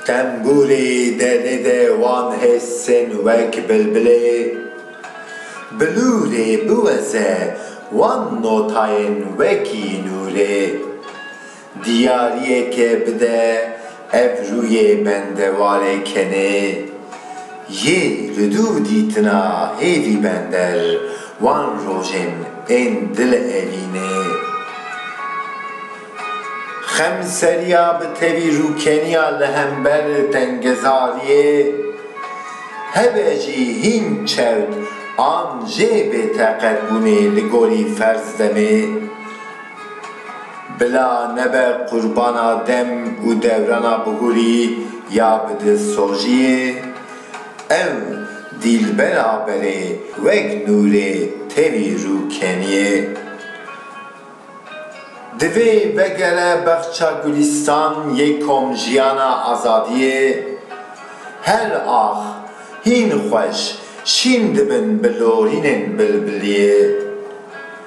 Tembûrê derê de wan hêsên wek bilbilê, bilûrê biweze wan notayên wekî nûrê. Diyariyeke bide ev rûyê bendewarê kenê yê li dûr dîtina hêvî bender wan rojên ên dil evînê. Xemseriya bi tevî rûkeniya li hember tengezariyê hebe jî hîn çewt an jê bêteqetbûnê li gorî ferz demê. Bila nebe qurbana dem û dewrana bihurî ya bi dilsoziyê, ev dîlbera berê wek nûrê tevî rû keniyê. Divê vegere Baxça Gulîstan yê Komjiyana Azadiyê. Her ax hîn xweş şîn dibin bi lorînên bilbiliyê.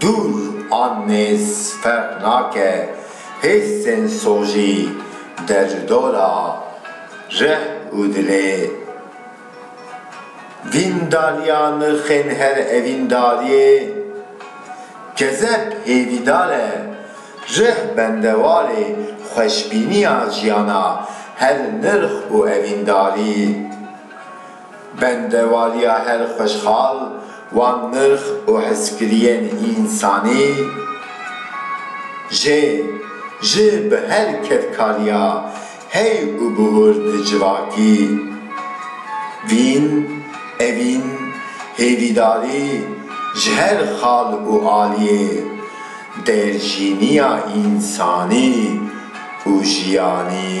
Dûr an nêz ferq nake, hêsên sojî dercudora reh û dilê. Dîndariya nirxên her evîndariyê kezeb hêvîdar e, reh bendewarê xweşbîniya jiyana her nirx û evîndarî. Bendewariya her xweşxal wan nirx û hezkiriyên însanî jê ji bi her kedkariya hey û bihur di civakî vîn evîn hêvîdarî ji her xal û aliyê dêrjîniya însanî û jiyanî.